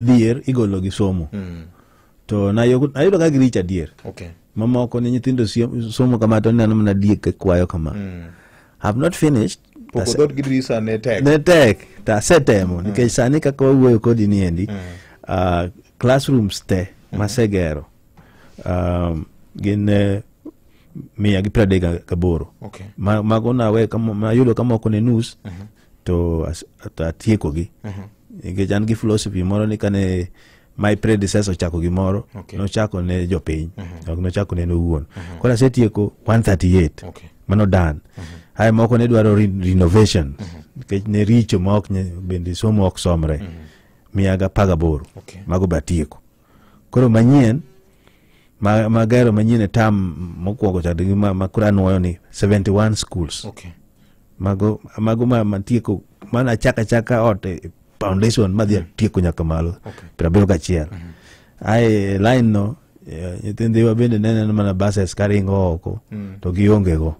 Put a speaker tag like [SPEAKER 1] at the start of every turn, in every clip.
[SPEAKER 1] dhier igolo gi somo mm. to nayo- nayudo ka giricho adier okay mamoko
[SPEAKER 2] ne nyithindo
[SPEAKER 1] siem- somo kama to neno mana diek ka kwayo kama mm. have not finished poko Ase- dhood gi dirisa
[SPEAKER 2] ne tek ne tek to
[SPEAKER 1] asetemo nikech sani kaka wawuoyo kodi ni endi ah, classrooms te masegero um, gin eh, mia gi piero adek ga- gaboro okay Ma-
[SPEAKER 2] mago nawe
[SPEAKER 1] kamo- nayudo ka moko ne nus to atiekogi uh-huh. nikech an gi philosophy moro ni kane my predecessor ochako gimoro okay. nochako ne jopiny uh -huh. ok nochako ne nowuon uh -huh. koro asetieko 138 okay. mano dan uh -huh. haya moko ne dwaro re renovation uh -huh. nikech ne richo ma ok bende somo ok somre uh -huh. miyaga pagaboro okay. mago be atieko koro manyien ma, ma gero manyien e tam mokwongo cha gi ma, ma koro anwoyo ni 71 schools Okay. mago mago ma, ma tieko mana achaka achaka ot e e foundation madhi atieko nyaka malo Okay. piero abiriyo gachiel ae line no eh, nyithindiwa bende neneno mana buses karingo oko to giongego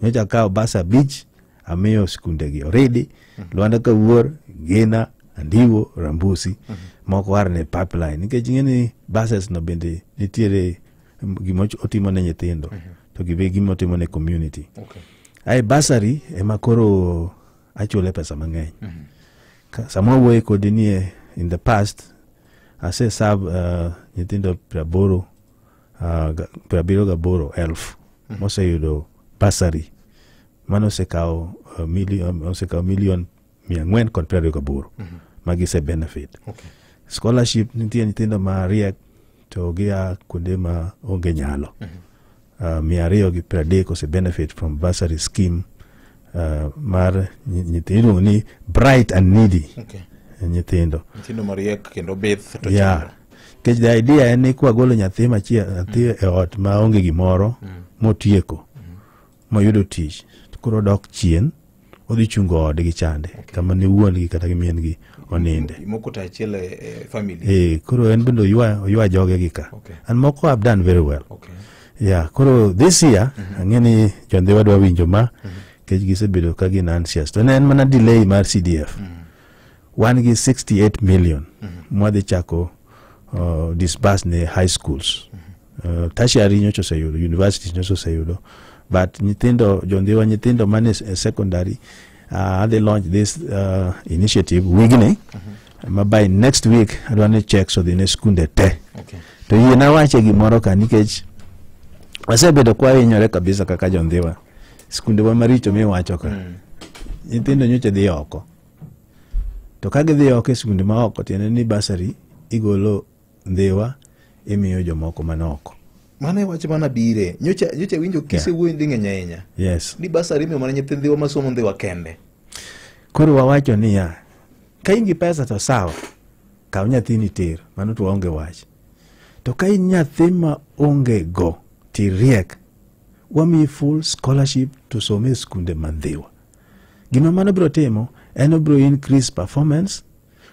[SPEAKER 1] nyocha kawo bus abich amiyo skundegi oridi mhm. lwanda kawuor gina andiwo rambusi mhm. moko war ne pipeline nikech ing'e ni buses no bende nitiere gima otimo ne nyithindo mhm. to gibe gima otimo ne community okay. ae basari ema koro achule pesa mang'eny mm -hmm. sama wuoye kodi nie in the past ase sab uh, eh, nyithindo praboro uh, eh, prabiro gaboro elf mm -hmm. moseyudo basari mano osekawo uh, million um, osekawo million mia ang'wen kod piero ariyo gaboro mm -hmm. ma gise benefit okay. scholarship nitie nyithindo ma riek to gia kuonde ma onge nyalo mm -hmm. uh, mia ariyo gi piero adek ose benefit from bursary scheme uh, mar nyithindo ni bright and needy okay. nyithindo nyithindo mariek
[SPEAKER 2] kendo bith to yeah. kech the
[SPEAKER 1] idea en ni kwagolo nyathi machiel nyathi mm. e ot ma onge gimoro mm. motieko moyudo tich to koro odok chien odhi chungo ode gi chande kama ne wuon-gi kata gi min-gi oninde Moko to achiel e
[SPEAKER 2] e family. Eh, koro en bende oywa
[SPEAKER 1] oywa joge gi ka Okay. and moko have done very well Okay. yeah koro this year ang'e ni jondhi wadwa winjo ma kech gisebedo ka gin anxious to ne en mana delay mar cdf wan gi 68 million mwadhi chako uh, disburse ne high schools uh, tertiary nyocha oseyudo universities nyocha oseyudo but nyithindo jondhiwa nyithindo mane s- eh, secondary uh, adhi launch this uh, initiative wigni ma by next week adwa ni checks odhi ne skunde te Okay. to yie nawache gimoro ka nikech wasebedo kwahinyore kabisa kaka jondhiwa skundewa maricho miwacho ka nyithindo nyocha dhi oko to ka gidhi oko e sikunde ma oko tiende ni basari igolo ndhiwa imiyo jomoko man oko mano e wach mana
[SPEAKER 2] bire nyocha nyocha winjo kise yeah. wuoyi nding'eny ahinya yes ni basari
[SPEAKER 1] imiyo mana nyithi
[SPEAKER 2] ndhiwa masomo ndhiwa kende koro
[SPEAKER 1] wawacho niya ka in gi pesa to sawa kaw nyathini ter mano to waonge wach to ka in nyathi ma onge go tiriek wamiyi full scholarship to some e skunde mandhiwa Gima mano biro timo en obiro increase performance,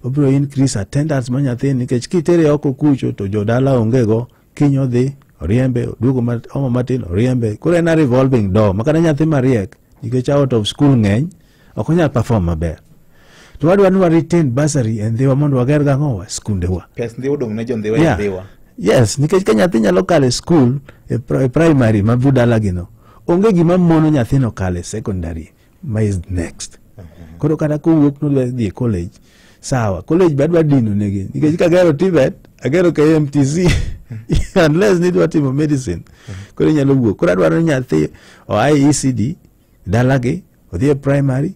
[SPEAKER 1] obiro increase attendance ma nyathini nikech kitere oko kucho to jodala ongego kiny odhi oriembe oduogo ma- omo matin oriembe koro en a revolving door makata nyathi mariek nikech out of school ng'eny ok onyal perform maber to wadwa ni wa retain bursary e ndhiwa mondo wager gang'owa skundewa pes ndiwa odong' ne jondhiwa
[SPEAKER 2] Yeah. e dhiwa yes nikech ka
[SPEAKER 1] nyathi nyalo kalo e skul e pri- e primary ma budalagino onge gima mono nyathino kale secondary ma is next koro kata kowuok nodwa dhi e college sawa college be adwa dino negi nikech kagero tibet agero kmtc unless nidwa timo medicine koro inyalo wuok koro adwaro ni nyathi oa e ecd dalagi odhi e primary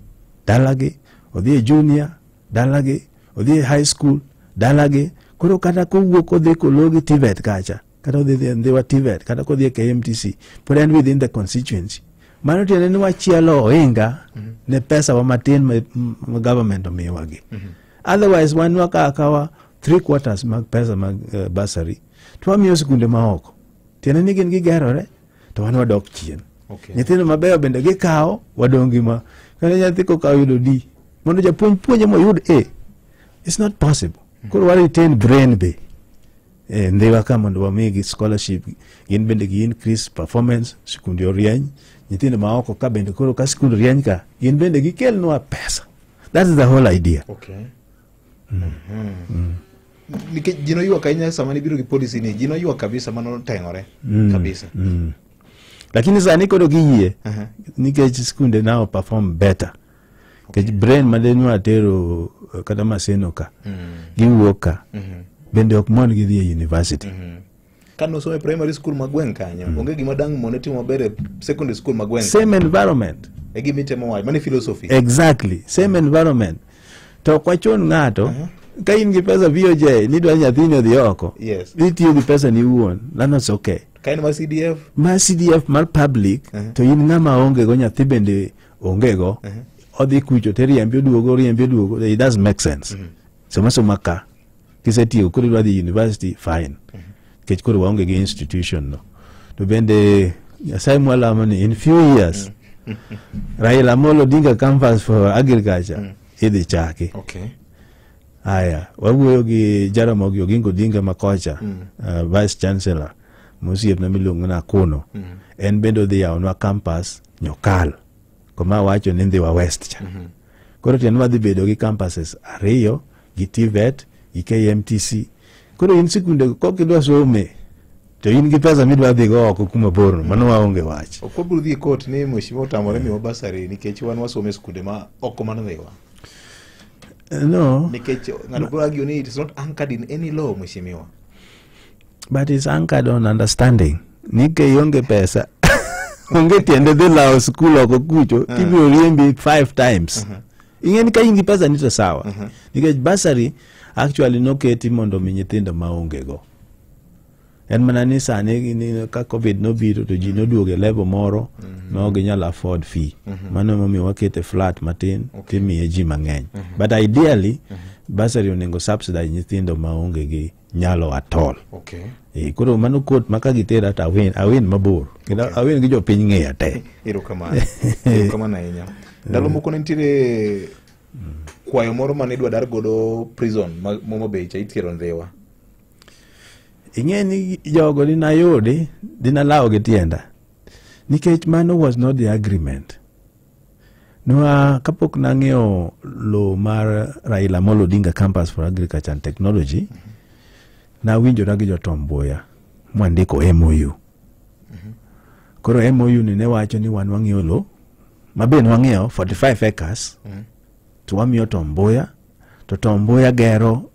[SPEAKER 1] dalagi odhi e junior dalagi odhi e high school dalagi koro kata kowuok odhi kologi tibet kacha kata odhi dhi e Ndhiwa TVET kata kodhi e KMTC pod en within the constituency mano tiende ni wachielo ohinga ne pesa wa matin ma m- ma government omiwagi otherwise wan wakawo akawa three quarters mag pesa mag uh, bursary to wamiyo sikunde maoko tiende ni gin gigerore to wan wadok chien Okay. nyithindo mabeyo bende gikawo wadong' gi ma kata nyathi kokawo yudo d mondo japuonj puonje moyud a it's not possible koro wa retain brain be eh, ndhiwa ka mondo wamigi scholarship gin bende gi increase performance skunde orieny nyithindo ma oko ka bende koro ka skund rieny ka gin bende gikelnwa pesa that is the whole idea okay. mm. Mm.
[SPEAKER 2] Mm. nikech ji noywak ahinya sama nibiro gi policy ni ji noywak kabisa ma noteng'ore mm. kabisa mm.
[SPEAKER 1] lakini sani koro giyie uh -huh. nikech skunde now perform better kech brain ma de nwa tero eh, kata maseno ka giwuok ka bende ok mon gidhi e university ka nosomo
[SPEAKER 2] e primary school ma gweng' kanyo onge gima dang' mone timo maber e secondary school ma gweng' same environment
[SPEAKER 1] e gima itemo wacho
[SPEAKER 2] mane philosophy exactly same
[SPEAKER 1] environment to ok wachun ng'ato ka in gi pesa VOJ ni dwa nyathini odhi oko Yes. itiyo gi pesa
[SPEAKER 2] ni
[SPEAKER 1] iwuon lano it's okay ka en mar cdf
[SPEAKER 2] ma CDF mar
[SPEAKER 1] public to in ng'ama onge go nyathi bende onge go odhi kucho to iriembe oduogo oriembe oduogo it doesn't make sense sama soma ka kisetieko koro idwa dhi university fine nikech koro waonge gi institution no to bende nyasaye mwalamo ni in few years raila amolo odinga campus for agriculture idhi chaki Okay.
[SPEAKER 2] haya
[SPEAKER 1] wawuoyo gi jaramogi oginga odinga makocha uh, vice chancellor mosiepna miluongo ni akuno en bende odhi yawonwa campus Nyokal koma awacho ni Ndhiwa West cha. Mhm. Koro tiende wadhi bedo gi campuses ariyo gi TVET gi KMTC. Koro in sikunde kok idwa some to in gi pesa midwa dhi go oko kuma borno mano waonge wach. Ok wabiro dhi e court ni
[SPEAKER 2] mheshimiwa otamore miwa basari nikech wan wasome e sikunde ma oko man Ndhiwa.
[SPEAKER 1] No. Nikech
[SPEAKER 2] ng'ato biro argue ni it is not anchored in any law mheshimiwa.
[SPEAKER 1] but is anchored on understanding ni ke ionge pesa onge tiende dhi lawo skul oko kucho tibiro riembi five times ing'e ni ka in gi pesa ni to sawa nikech basari actually noketi mondo omi nyithindo ma ongego en mana ni sani ni- ka covid nobiro to ji noduogo e level moro no ginyalo afford fee mano emomiyo wakete flat matin timiye ji mang'eny but ideally basari onego subsidize nyithindo ma onge gi nyalo atol okay. e, koro
[SPEAKER 2] mano kot ma
[SPEAKER 1] ka gitera to awin awin mabor kendo okay. awin gi jopiny ng'eya te erokamano
[SPEAKER 2] erokamano ahinya ndalo moko ne nitiere kwayo moro mane idwa dar godo prison moma be cha ithiero ndhiwa ing'e
[SPEAKER 1] ni jogo dinayudi dinalawo gi tienda nikech mano was not the agreement Nwa kapok nang'iewo lowo mar Raila Amolo Odinga Campus for Agriculture and Technology, nawinjora gi jotom Mbuya mwandiko MOU. Koro MOU ni ne wacho ni wan wang'iewo lowo ma be ne wang'iewo 45 acres to wamiyo Tom Mbuya to Tom Mbuya gero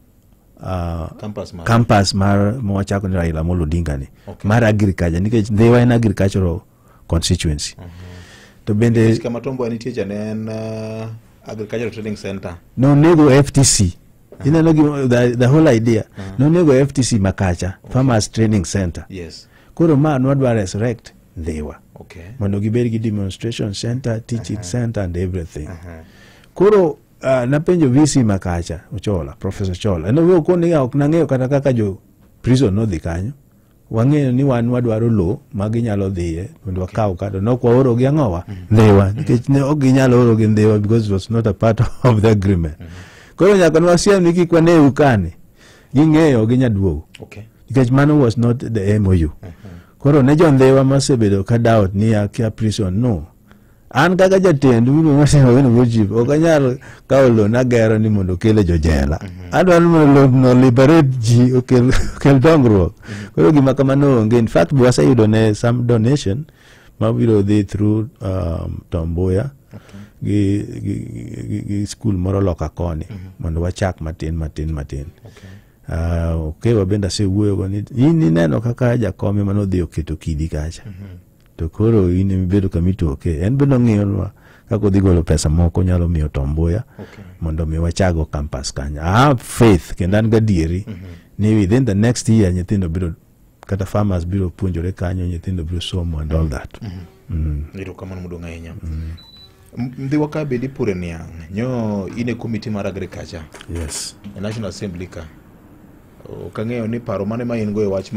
[SPEAKER 1] ah, Campus mar- campus mar mawachako ni Raila Amolo Odinga ni Okay. mar agriculture nikech Ndhiwa en agricultural constituency mm -hmm. to bende kama tombo nitie cha ne
[SPEAKER 2] en uh, agricultural training center no nego
[SPEAKER 1] ftc uh -huh. ineno gi the, the whole idea uh -huh. no nego ftc makacha okay. farmers training center yes koro ma
[SPEAKER 2] nwadwa
[SPEAKER 1] resurrect dhiwa okay. mondo
[SPEAKER 2] gibed gi
[SPEAKER 1] demonstration center teaching uh -huh. center and everything uh -huh. koro uh, napenjo vc makacha ochola professor chola nowuo koniga ok nang'eyo kata kaka jo prison nodhi kanyo wang'eyo ni wan wadwaro lowo ma ginyalo dhiye mondo wakaw kado nok waoro gi ang'owa ndhiwa nikech ne ok ginyal oro gi ndhiwa because it was not a part of the agreement koro nyaka ne wasiem ni kik wane ukani ging'eyo gi nyaduogo Okay. nikech mano
[SPEAKER 2] was
[SPEAKER 1] not the mou koro ne jo ndhiwa masebedo ka doubt ni akia prison no an kaka jatend winogochip ok anyal kawo lo nagero ni mondo okele jojela mhm. adwaro ni mondo lo no liberate ji okel dongruok mhm. koro gima kamano onge in fact be waseyudo ne some donation mabiro dhi through um, tombuya gi, gi, gi, gi skul moro loka koni mhm. mondo wachak matin matin matin ah, okewa bende asewuoyogo ni in ineno kaka jakome manodhi oketo kidi kacha to koro in imibedo kama itoke en be nong'iyonwa kaka odhi golo pesa moko nyalo miyo tombuya Okay. mondo mi wachago campus kanyo i have faith kendo an gadieri ni within the next year nyithindo biro kata farmers biro puonjore kanyo nyithindo biro somo and all that Mm. erokamano
[SPEAKER 2] modong' ahinya M- mdhiwa ka bedi pure niang' nyo in e komiti mar agriculture yes e national assembly ka ok ang'eyo ni paro mane ma in go e wach ma